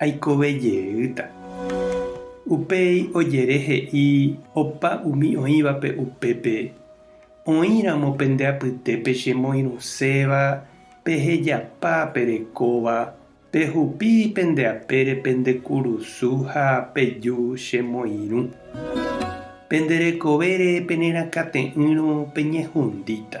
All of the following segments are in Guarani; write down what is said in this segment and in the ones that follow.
Aikove jeýta. Upéi ojere he'i opa umi oĩvape upépe, Oĩramo pende apytépe che moirũséva, pehejapa perekóva, pehupi pende apére pende kurusu ha peju che moirũ. Pende rekovére penerakãte'ỹrõ peñehundíta.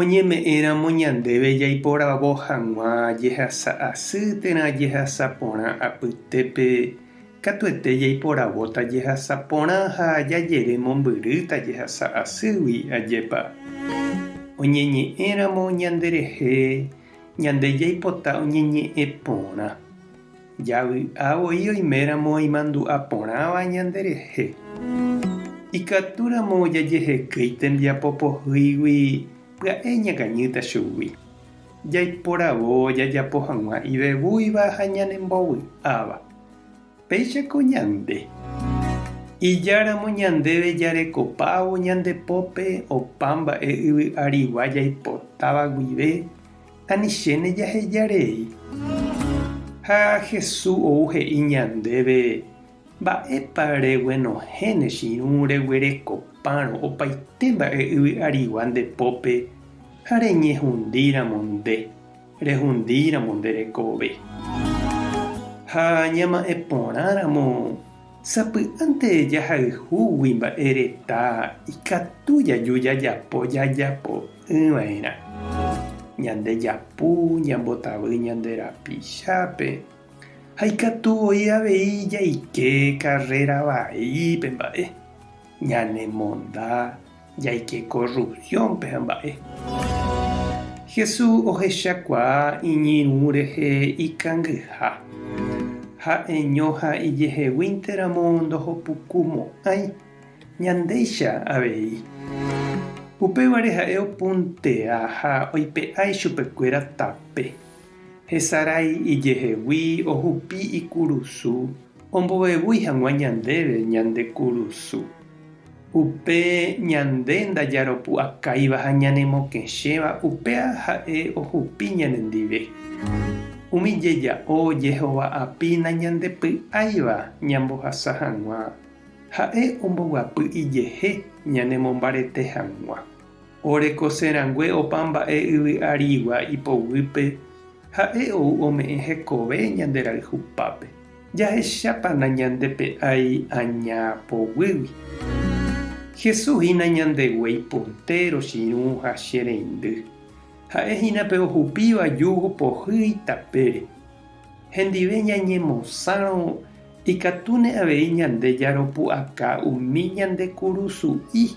Oñeme'ẽramo ñandéve jaiporavo hag̃ua jehasa asy térã jehasa porã apytépe, katuete jaiporavóta jehasa porã ha jajere mombyrýta jehasa asýgui, ajépa? Oñeñe'ẽramo ñanderehe, ñande jaipota oñeñe'ẽ porã. Javy'a voi oiméramo oimandu'a porãva ñanderehe. Ikatúramo jajehekéi tembiapo pohýigui pya'e ñakañýta chugui. Jaiporavo jajapo hag̃ua ivevúiva ha ñanembovy'áva. Péichako ñande. Ijáramo ñandéve jarekopávo ñande pópe opa mba'e yvy'arigua jaipotáva guive ani chéne jaheja rei. Ha Hesu ou he'i ñandéve, Mba'épa reguenohẽ ne chiru reguerekopárõ opaite mba'e yvy arigua nde pópe ha reñehundíramo nde, rehundíramo nde rekove. Ha ñama'ẽ porãramo Sapy'ánte jahayhúgui mba'e retã ikatu jaju jajapo jajapo'ỹva'erã. Ñande japu ñambotavy ñande rapichápe ha ikatu voi avei jaike karréra vaípe mba'e ñanemonda. Jaike ko rruviónpe ha mba'e. Jesús ohechakuaa iñirũ rehe ikangyha. Ha'eño ha ijeheguínte ramo ndohopuku mo'ãi, ñandéicha avei. Upévare ha'e opuntea ha oipe'a ichupekuéra tape. Hesarái ijehegui ohupi ikurusu Ombovevúi hag̃ua ñandéve ñande kurusu. Upe ñande ndajaropu'akáiva ha ñanemokẽchéva upéva ha'e ohupi ñanendive. Umi jeja'o jehova'apy nañandepy'áiva ñambohasa hag̃ua, ha'e omboguapy ijehe ñanemombarete hag̃ua. Orekose rangue opa mba'e yvy arigua ipoguýpe, Ha'e ou ome'ẽ hekove ñande rayhupápe, jahechápa nañandepe'ái aña poguýgui. Jesús hína ñandeguéi portéro chiru ha che reindy. Ha'e hína pe ohupíva júgo pohýi tapére. Hendive ñañemosãrõ ikatúne avei ñande jaropu'aka umi ñande kurusu'i.